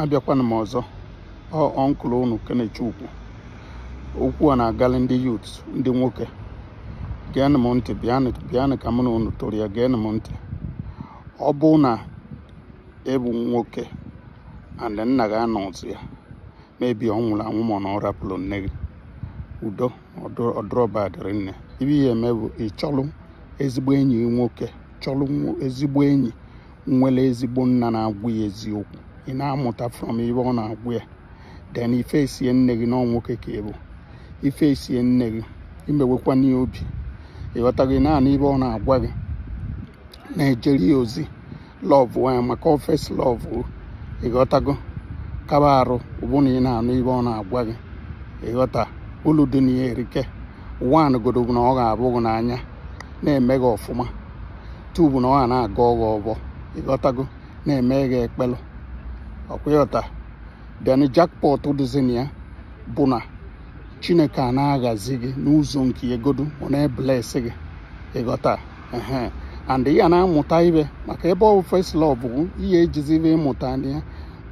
abịakwana m ọzọ uncle unu Kenechukwu okwu a na-agalị ndị youth ndị nwoke geenụ m ntị bịanụ ka mụ na unu toro ya geenụ m ntị ọ bụ na ị bụ nwoke and nna gị anọzị ya maybe ọ nwụrụ anwụ ma na ọ rapụrụ nne gị udo ọ dụrọ va dịrị nne ive ị ya-eme bụ ịchọlụ ezigbo enyi nwoke chọlụ ezigbo enyi nwere ezigbo nna na-agwa ya eziokwu ị na-amụta from ive ọ na-agwa ya then ị facie nne gị na ọ nwoke ka ị bụ ị facie nne gị emewekwana ya obi ị ghọta gị na-anụ ive ọ na-agwa gị na-ejere ya ozi love ya maka ọ first love ị ghọtago kaba arụ ọ bụ na ị na-anụ ive ọ na-agwa gị ị ghọta ulu dị na ya erike one godu bụ na ọ ga-avụ gị n'anya na-eme gị ọfụma two bụ na ọ ga na-agọ gị ọvọ ị ghọtago na-eme gị ekpele ọ kwa ị ghọta then jackpot dịzi na ya bụ na Chineke a na-agọzi gị n'ụzọ nke ya godu ọ na-ebless gị ị ghọta ehe and ị ya na-amụta ive maka ebe ọ bụ first love bụ ị ya-ejizi ive ị mụta na ya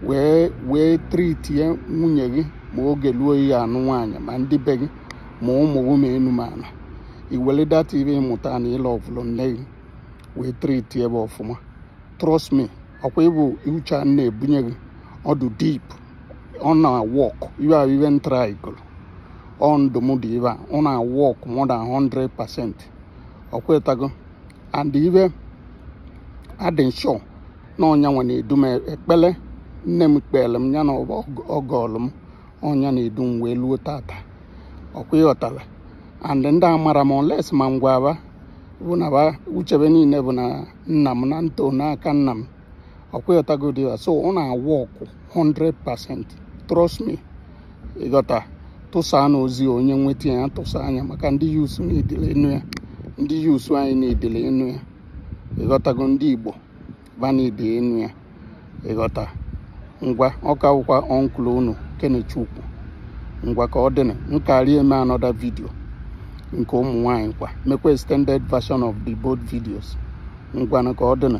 wee wee treatie nwunye gị ma oge luo ị ya-anụ nwaanyị ma ndị be gị ma ụmụ gị ma enu ma ana ị were that ive ị mụta na ị lovụlụ nne gị wee treatie va ọfụma trust me ọ kwa ị vụ uche a na-ebunye gị ọ dụ deep ọ na-awork ive ahụ ive m trygolu ọ ndụmọdụ ive a ọ na-awork more than 100 percent ọ kwa ị ghọtago and ive a dị m sure na ọ nya nwa na-edu m ekpele nne m kpeelu m ya na ọvọ ọ gọlụ m ọ nya na-edu m wee luo taata ọ kwa ị ghọtara and ndị amarọ m unless ma m gwa va bụ na va uche va niile bụ na nna m na m to n'aka nna m ọ kwa ị ghọtagodi ya so ọ na-awork 100% trust me ị ghọta tụsaanụ ozi onye nweta ya tụsaa nya maka ndị youths needili ịnụ ya ndị youths anyị needili ịnụ ya ị ghọtago ndị Igbo va need ịnụ ya ị ghọta ngwa ọ ka wụkwa uncle unu Kenechukwu ngwa ka ọ dịnụ m ka ya-eme another video nke ụmụ nwanyị kwa mekwa extended version of the both videos ngwanụ ka ọ dịnụ